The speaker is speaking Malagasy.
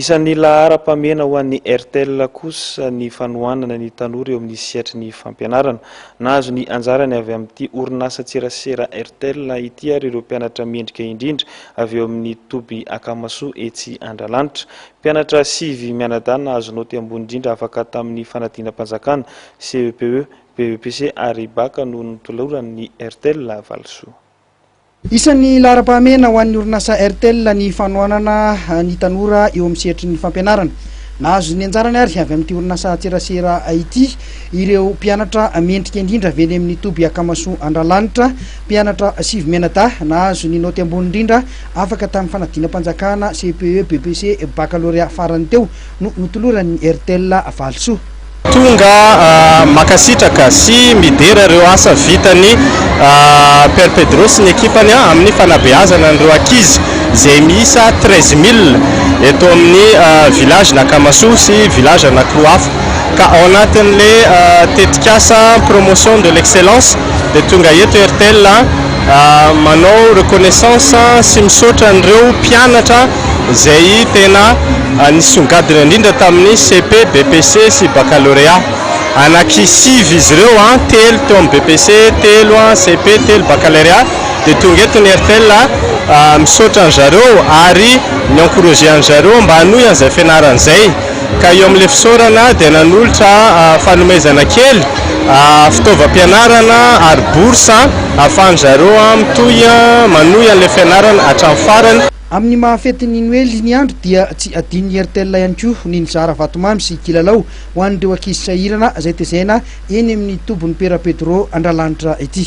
Isan'ny laharam-pahamehana ho an'ny Airtel kosa ny fanohanana ny tanora eo amin'ny sehatry ny fampianarana. Nahazo ny anjarany avy amin'ity orinasan-tserasera Airtel ity ary ireo mpianatra mendrika indrindra avy eo amin'ny toby Akamasoa etsy Andralanitra. Mpianatra sivy mianadahy nahazo naoty ambony indrindra afaka tamin'ny fanadinam-panjakana, CEPE, BEPC ary Bac no notoloran'ny Airtel valisoa. Isan'ny laharam-pahamehana ho an'ny orinasa Airtel ny fanohanana ny tanora eo amin'ny sehatry ny fampianarana. Nahazo ny anjarany ary avy amin'ity orinasa an-tserasera ity ireo mpianatra mendrika indrindra avy eny amin'ny toby Akamasoa Andralanitra, mpianatra sivy mianadahy nahazo ny naoty ambony indrindra afaka tamin'ny fanadinam-panjakana, CPE, BEPC, bakalorea farany teo no notoloran'ny Airtel Valosoa. Tonga makasitraka sy midera ireo asa vitan'i Père Pedro sy ny ekipany amin'ny fanabeazana an'ireo ankizy izay miisa treize mille eto amin'ny Village Nakamasoa sy Village Anakloafo ka ao anatin'ilay tetikasa Promotion de l'excellence dia tonga eto Airtel manao reconnaissance sy misaotra an'ireo mpianatra izay tena nisongadina indrindra tamin'ny cepe, BEPC sy baccalauréat. Anaky sivy izy ireo, telo teo amin'ny BEPC, telo cepe, telo baccalauréat, dia tonga eto ny Airtel misaotra an-dry zareo ary mi-encourager an-dry zareo mba hanohy an'izay fianarana izay. Ka eo amin'ilay fisaorana dia nanolotra fanomezana kely fitaovam-pianarana ary bourse ahafahan-dry zareo mitohy manohy an'ilay fianarana hatramin'ny farany. Amin'ny maha fetin'ny Noely ny andro dia tsy adinon'i Airtel ihany koa ny nizara vatomamy sy kilalao ho an'ireo ankizy sahirana izay tezaina eny amin'ny tobin'i Pera Pedro Andralanitra ity.